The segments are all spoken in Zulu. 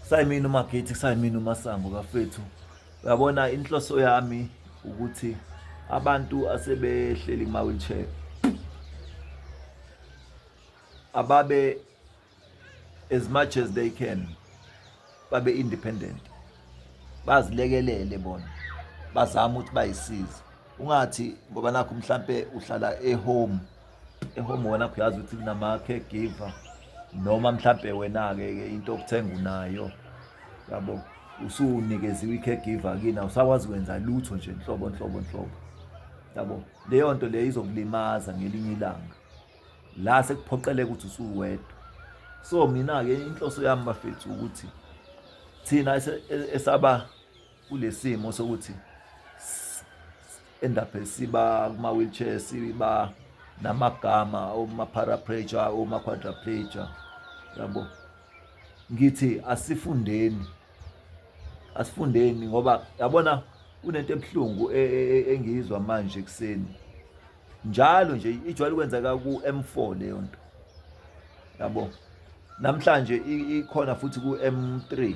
sayimina umagethi sayimina umasango kafethu uyabona inhloso yami ukuthi abantu asebehleli kuma wheelchair ababe as much as they can babe independent bazilekelele bona bazama ukuthi bayisize ungathi ngoba nakho mhlambe uhlala ehome ehomona uyazi ukuthi kunama-caregiver noma mhlampe wena-ke ke into okuthenga unayo yabo usunikeziwe i-caregiver kini awusakwazi kwenza lutho nje nhlobo nhlobo nhlobo yabo leyo nto leyo izokulimaza ngelinye ilanga la sekuphoqeleka ukuthi usuwedwa so mina-ke inhloso yami bafethu ukuthi thina esaba kulesimo sokuthi end up siba kuma wheelchair siba namagama uma paraplegia uma quadriplegia yabo ngithi asifundeni asifundeni ngoba yabona kunento ebuhlungu e, e, e, engiyizwa manje kuseni njalo nje ijwayele ukwenzeka ku-M4 leyo nto yabo namhlanje ikhona futhi ku-M3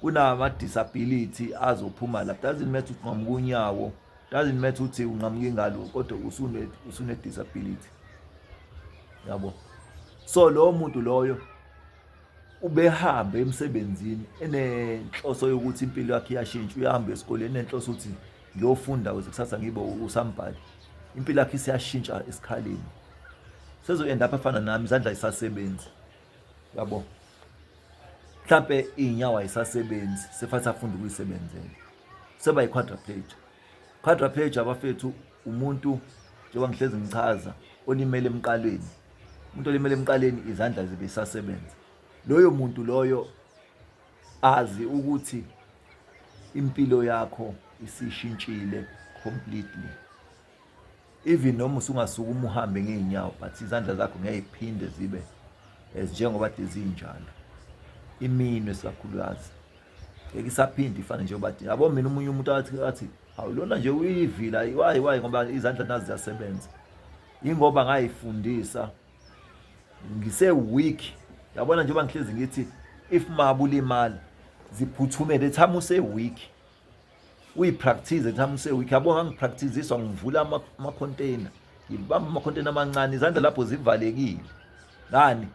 kunama disability azophuma la doesn't matter ukuthi nqamuka unyawo doesn't matter ukuthi unqamuka ingalo kodwa usune usune disability yabo so lowo muntu loyo ubehambe emsebenzini enenhloso yokuthi impilo yakhe iyashintsha uyahamba esikoleni enenhloso ukuthi ngiyofunda kuze kusasa ngibe usambhali impilo yakhe isiyashintsha esikhaleni sezoyenda apha afana nami izandla isasebenzi yabo mhlampe iy'nyawo ayisasebenzi sefathi afunda ukuyisebenzela seba yi-quadraplegia quadraplegia abafethu umuntu njengoba ngihlezi ngichaza olimele emqaleni umuntu olimele emqaleni izandla zibe isasebenza loyo muntu loyo azi ukuthi impilo yakho isishintshile completely even noma usungasukuma uhambe ngey'nyawo but izandla zakho ngeke iphinde zibe as njengoba de zinjalo iminwe sikakhulukazi ngeke isaphinde ifane njengoba de yabo mina omunye umuntu athi athi hawu lona nje uyivila wayi wayi ngoba izandla nazi ziyasebenza yingoba ngayifundisa ngise-weak yabona njengoba ngihlezi ngithi if mabulimali ziphuthumele ethama use-weak uyipractice ngithi amuse week yabo ngangipracticiziswa ngivula ama-container ngibamba ama-container amancane izandla lapho zivalekile ngani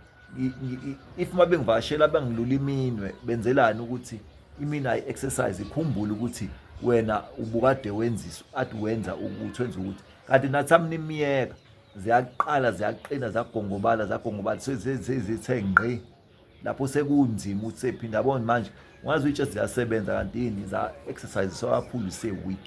if uma bengivakashela bangilula iminwe benzelani ukuthi imini ayi-exercise ikhumbule ukuthi wena ubukade wenzisa ade wenza ukuthi wenza ukuthi kanti nathi amnimiyeka ziyaqala ziyaqina zagongobala zagongobala sezithe ngqi lapho sekunzima ukuthi sephinde abone manje ungazi ukuthi just ziyasebenza kanti yini za exercise so kakhulu se week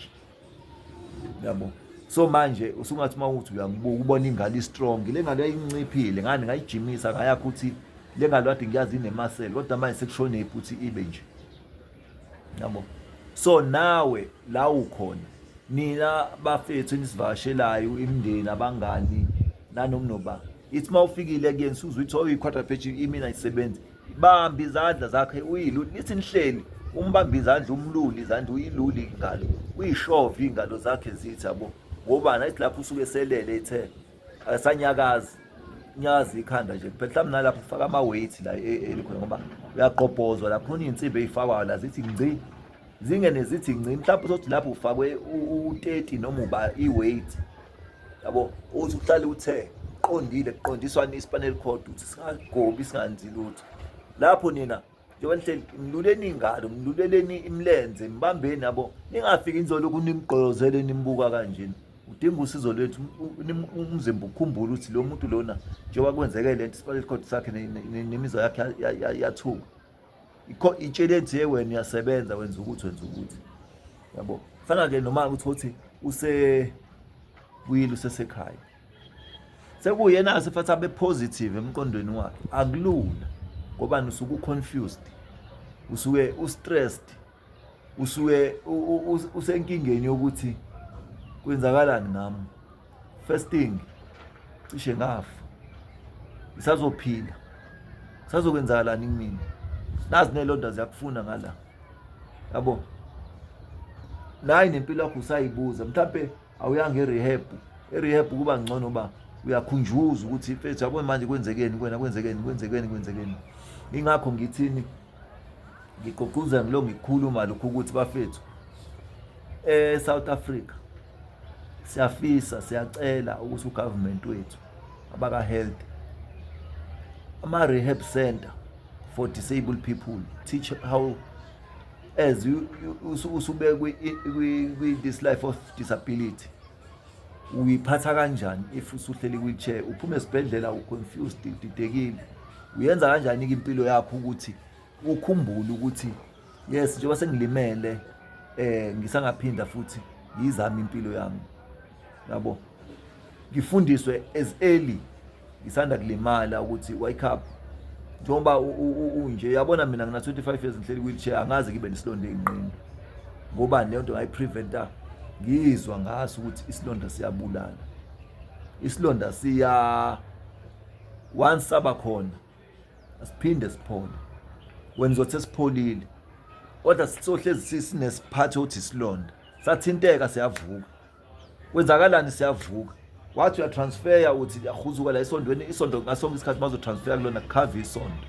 yabo so manje usungathi uma uthi uyangibuka ubona ingane istrong le ngane yayinciphile ngani ngayijimisa ngayakho ukuthi le ngane wade ngiyazi inemasele kodwa manje sekushonephi ukuthi ibe nje yabo so nawe la ukhona nina bafethu enisivakashelayo imndeni abangani nanomnoba ithi uma ufikile kuyena suze uthi oh i-quarter page imina isebenzi bamba izandla zakhe uyilule nithi nihleli umbamba izandla umlule izandla uyilule ingalo uyishove iy'ngalo zakhe zithi yabo ngobani ayithi lapho usuke selele ethe asanyakazi nyazi ikhanda nje kuphela mhlawumbe nalapho ufaka ama-weight la e, e, elikhona ngoba uyaqobhozwa la khona iy'nsimbi ey'fakwayo la zithi ngci zingene zithi ngci mhlawumbe uzothi lapho ufakwe u-thirty noma uba i-weight yabo uthi uhlale uthe qondile kuqondiswa ispanel code ukuthi singagobi singanzi lutho lapho nina njengoba nihleli mluleni ingalo mluleleni imilenze mbambeni yabo ningafiki nizolokhu nimgqolozele nimbuka kanjena udinga usizo lwethu umzimba ukhumbula ukuthi lo muntu lona njengoba kwenzeke le nto isibali record sakhe nemizwa yakhe yathuka itsheleni nje wena uyasebenza wenza ukuthi wenza ukuthi yabo fana-ke noma ukuthi uthi usebuyile usesekhaya sekuyena asefathi abe positive emqondweni wakhe akulula ngobani usuke uconfused usuke ustressed usuke usenkingeni yokuthi kwenzakalani ngami first thing cishe ngafa isazophila sazokwenzakalani kumina nazi nelonda ziyakufuna ngala yabo nayi nempilo yakho usayibuza mhlawumbe awuyanga e-rehab e-rehab kuba ngcono uba uyakhunjuza ukuthi mfethu yabona manje kwenzekeni kwena kwenzekeni kwenzekeni kwenzekeni ingakho ngithini ngigqugquzela ngilo ngikhuluma lokhu ukuthi bafethu e-south africa siyafisa siyacela ukuthi ugovernment wethu abaka-health ama-rehab center for disabled people teach how as usube kwi-this life of disability uyiphatha kanjani if usuhleli kwi-chair uphume esibhedlela u-confused udidekile uyenza kanjani-ke impilo yakho ukuthi ukhumbule ukuthi yes njengoba sengilimele um ngisangaphinda futhi ngiyizame impilo yami yabo ngifundiswe as early ngisanda kulimala ukuthi wake up njengoba unje yabona mina ngina 25 years ngihleli wheelchair angazi ngibe nesilonda enqini ngoba leyo nto ngayipreventa ngizwa ngaso ukuthi isilonda siyabulala isilonda siya once saba khona asiphinde siphole wena uzothi esipholile kodwa sisohlezi sinesiphatho othi isilonda sathinteka siyavuka kwenzakalani siyavuka wathi uyatransfeya uthi liyahuzuka la esondweni isonto ngasonke isikhathi bazotransfeya kulona kukhava isonto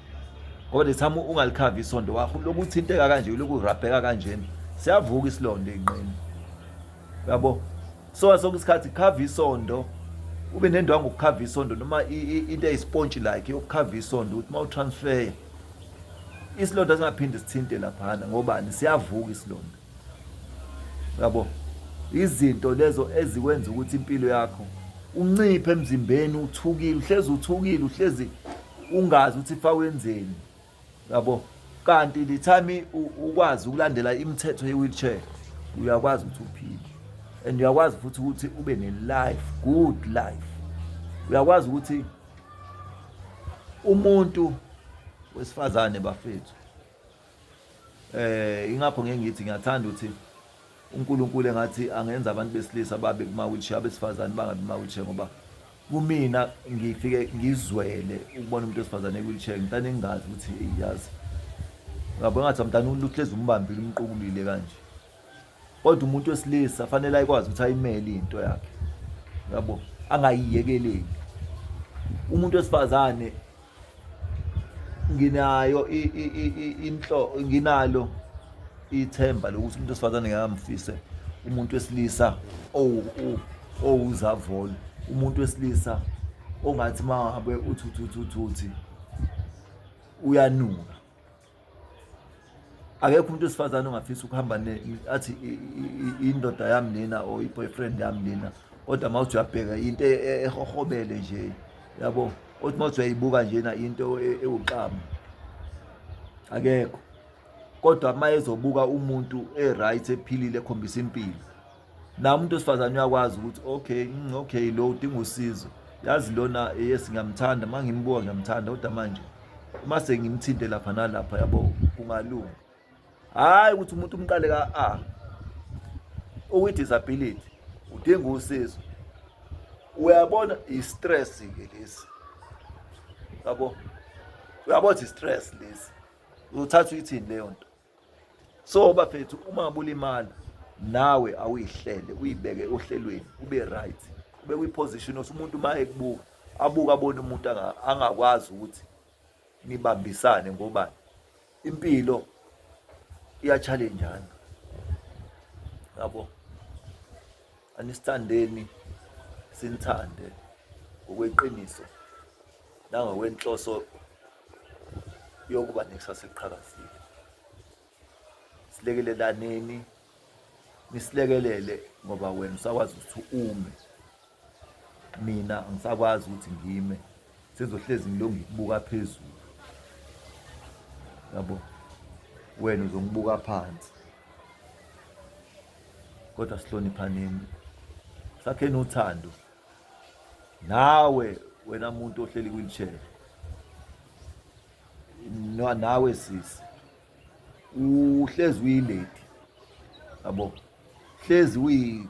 ngoba the time ungalikhava isonto wakho lokhu uthinteka kanje lokhu urabheka kanjena siyavuka isilonda inqini yabo so sonke isikhathi khava isonto ube nendwangu ukukhava isonto noma into eyispontshi like yokukhava isonto ukuthi uma utransfeya isilonda singaphinde sithinte laphana ngobani siyavuka isilonda Yabo. Izinto lezo ezikwenza ukuthi impilo yakho unciphe emzimbeni uthukile uhlezi uthukile uhlezi ungazi ukuthi fa wenzeni yabo kanti the time ukwazi ukulandela imithetho ye-wheelchair uyakwazi ukuthi uphile and uyakwazi futhi ukuthi ube ne-life good life uyakwazi ukuthi umuntu wesifazane bafethu Eh ingakho ngeke ngithi ngiyathanda ukuthi uNkulunkulu engathi angenza abantu besilisa babe kuma wheelchair abesifazane bangabe kuma wheelchair ngoba kumina ngifike ngizwele ukubona umuntu wesifazane ewheelchair ngitane ngingazi ukuthi iyazi ngabo ngathi amntana uhlezi umbambile umqubulile kanje kodwa umuntu wesilisa fanele ayikwazi ukuthi ayimele into yakhe yabo angayiyekeleli umuntu wesifazane nginayo inhlo nginalo ithemba lokuthi umuntu wesifazane ngamfise umuntu wesilisa owuzavolo umuntu wesilisa ongathi mangabe uthuthuthuthi uyanuka akekho umuntu wesifazane ongafisa ukuhamba athi indoda yami nina or i-boyfriend yami nina kodwa uma uthi uyabheka into e, e, ehohobele nje yabo othi uma uthi uyayibuka njena into e, ewuxamu akekho kodwa uma ezobuka umuntu e-right ephilile ekhombisa impilo naye umuntu wesifazane uyakwazi ukuthi okay mm, okay lo udinga usizo yazi lona yes ngiyamthanda uma ngimbuka ngiyamthanda kodwa manje uma sengimthinte lapha nalapha yabo kungalunga hhayi ukuthi umuntu umqale ka-a okwi-disability udinga usizo uyabona i-stress-ke lesi yabo uyabona i-stress lesi uzothatha uyithini leyo nto so bafethu uma bulimala nawe awuyihlele uyibeke ohlelweni ube right ube kwi-position othi umuntu uma ekubuka abuke abone umuntu angakwazi ukuthi nibambisane ngoba impilo iyatshalenjana yabo anisithandeni sinithande ngokweqiniso nangokwenhloso yokuba nekusasa eliqhakazile silekelelaneni nisilekelele ngoba wena usakwazi ukuthi ume mina ngisakwazi ukuthi ngime sengizohlezi ngilonge ngikubuka phezulu yabo wena uzongibuka phansi kodwa sihloniphaneni sakheni uthando Nawe wena muntu ohleli kwi-wheelchair no nawe sisi uhlezi uyilady yabo hlezi uyi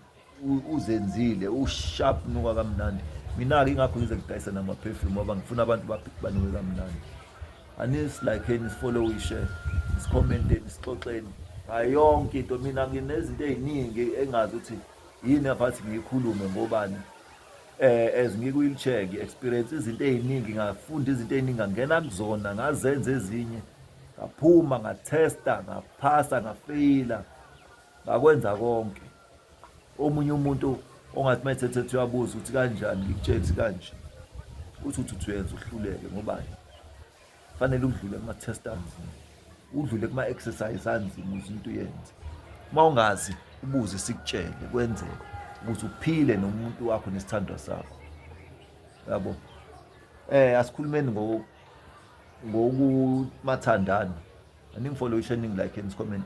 uzenzile usharp nuka kamnandi mina ke ingakho ngize ngidayisa nama perfume ngoba ngifuna abantu banuke kamnandi anis like ni follow we share is comment is xoxeni ayonke into mina nginezinto eziningi engazi ukuthi Yini abathi ngiyikhulume ngobani eh as ngikuyi check experience izinto eziningi ngafunda izinto eziningi ngangena kuzona ngazenza ezinye ngaphuma ngathesta ngaphasa ngafeyila ngakwenza konke omunye umuntu ongathi mayethethe ethi uyabuza ukuthi kanjani ngikutshela ukuthi kanje uthi uthi uyenza uhluleke ngobani fanele udlule kuma test anzima udlule kuma exercise anzima ukuze into yenze uma ungazi ubuze sikutshele kwenzeke ukuthi uphile nomuntu wakho nesithandwa sakho yabo eh asikhulumeni ngo ngokumathandana aningifollowisha eningi like and comment